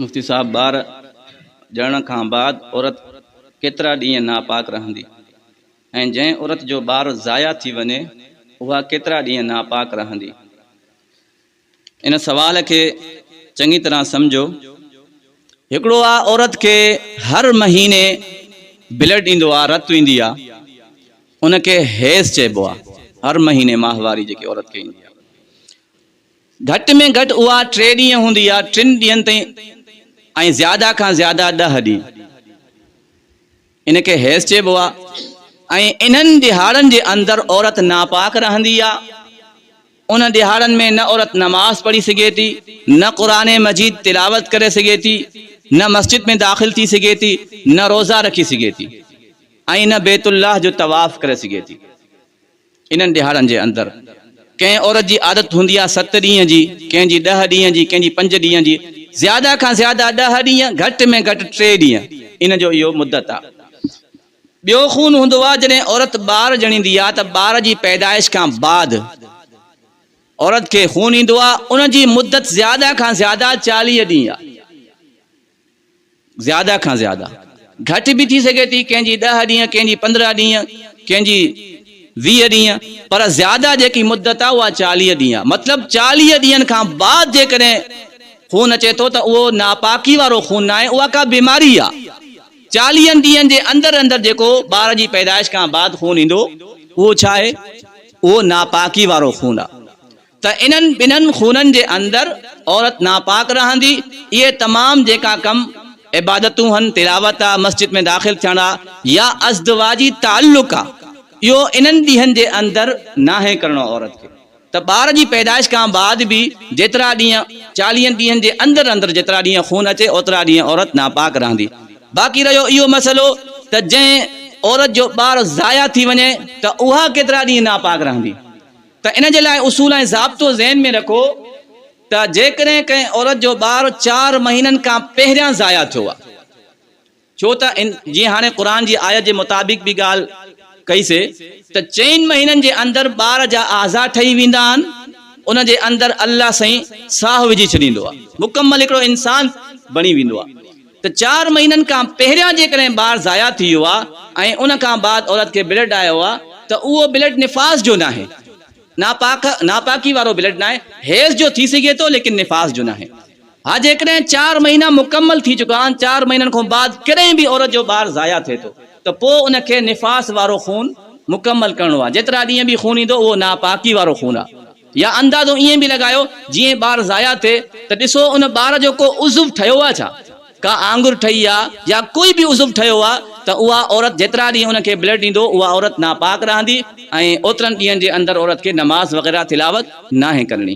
مفتي صاحب ٻار ڄڻڻ کان بعد عورت ڪيترا ڏينهن ناپاڪ رهندي ۽ جنهن عورت جو ٻار ضايع ٿي وڃي اها ڪيترا ڏينهن ناپاڪ رهندي؟ ان سوال کي چڱي طرح سمجهو. هڪڙو آ عورت کي هر مهيني بلڊ ايندو آ رت ايندي آ ان کي حيض چئبو آ هر مهيني ماهواري جيڪي عورت کي ايندي آ. گهٽ ۾ گهٽ اها ٽي ڏينهن هوندي يا ٽن ڏينهن تائين ۽ زياده کان زياده ڏهه ڏينهن. ان کي حيض چئبو آهي ۽ انهن ڏهاڙن جي اندر عورت ناپاڪ رهندي آهي. ان ڏهاڙن ۾ نه عورت نماز پڙهي سگهي ٿي، نه قرآن مجيد تلاوت ڪري سگهي ٿي، نه مسجد ۾ داخل ٿي سگهي ٿي، نه روزا رکي سگهي ٿي ۽ نه بيت الله جو طواف ڪري سگهي ٿي. انهن ڏهاڙن جي اندر ڪنهن عورت جي عادت هوندي آهي ست ڏينهن جي، ڪنهن جي ڏهه ڏينهن جي، ڪنهن جي پنج ڏينهن جي، زياده کان زياده ڏهه ڏينهن، گهٽ ۾ گهٽ ٽي ڏينهن ان جو اهو مدت آهي. ٻيو خون هوندو آهي جڏهن عورت ٻار ڄڻيندي آهي ته ٻار جي پيدائش کان بعد عورت کي خون ايندو آهي، ان جي مدت زياده کان زياده چاليهه ڏينهن آهي. زياده کان زياده گهٽ به ٿي سگهي ٿي ڪنهن جي ڏهه ڏينهن ڪنهن جي پندرهن ڏينهن ڪنهن جي ويهه ڏينهن پر زياده جيڪي مدت آهي اها چاليهه ڏينهن آهي مطلب چاليهه ڏينهن کان بعد جيڪڏهن خون اچي ٿو ته اهو ناپاڪي وارو خون ناهي اها ڪا بيماري آهي چاليهن ڏينهن جي اندر اندر جيڪو ٻار جي پيدائش کان بعد خون ايندو اهو ڇا آهي اهو ناپاڪي وارو خون آهي ته انهن ٻنهن خونن جي اندر عورت ناپاڪ رهندي، اهي تمام جيڪا ڪم، عبادتون هن، تلاوت آ، مسجد ۾ داخل ٿيڻ آ يا ازدواجي تعلق آ، اهو انهن ڏينهن جي اندر ناهي ڪرڻو عورت کي ته ٻار جي پيدائش کان بعد به جيترا ڏينهن چاليهن ڏينهن جي اندر اندر جيترا ڏينهن خون اچي اوترا ڏينهن عورت ناپاڪ رهندي باقي رهيو اهو مسئلو ته جنهن عورت جو ٻار ضايع ٿي وڃي ته اها ڪيترا ڏينهن ناپاڪ رهندي. ته ان جي لاء اصول ۽ ضابطو ذهن ۾ رکو ته جيڪڏهن ڪنهن عورت جو ٻار چار مهينن کان پهريان ضايع ٿيو آهي ڇو ته ان جيئن هاڻي قرآن جي آيت جي مطابق به ڳالهه ڪئي سي ته چئن مهينن جي اندر ٻار جا اعضا ٺهي ويندا آهن ان جي اندر الله سائين ساهه وجهي ڇڏيندو آهي مڪمل هڪڙو انسان بڻي ويندو آهي ته چار مهينن کان پهريان جيڪڏهن ٻار ضايع ٿي ويو آهي ۽ ان کان بعد عورت کي بلڊ آيو آهي ته اهو بلڊ نفاس جو ناهي، ناپاڪ، ناپاڪي وارو بلڊ ناهي، حيض جو ٿي سگهي ٿو ليڪن نفاس جو ناهي. ها جيڪڏهن چار مهينا مڪمل ٿي چڪا آهن، چار مهينن کان بعد ڪڏهن به عورت جو ٻار ضايع ٿئي ٿو ته پوء ان کي نفاس وارو خون مڪمل ڪرڻو آهي، جيترا ڏينهن به خون ايندو اهو ناپاڪي وارو خون آهي. يا اندازو ائين به لڳايو جيئن ٻار ضايع ٿئي ته ڏسو ان ٻار جو ڪو عضو ٺهيو آهي ڇا؟ ڪا آڱر ٺهي آهي يا ڪوئي به عضو ٺهيو آهي ته اها عورت جيترا ڏينهن ان کي بلڊ ڏيندو اها عورت ناپاڪ رهندي ۽ اوترن ڏينهن جي اندر عورت کي نماز وغيره تلاوت ناهي ڪرڻي.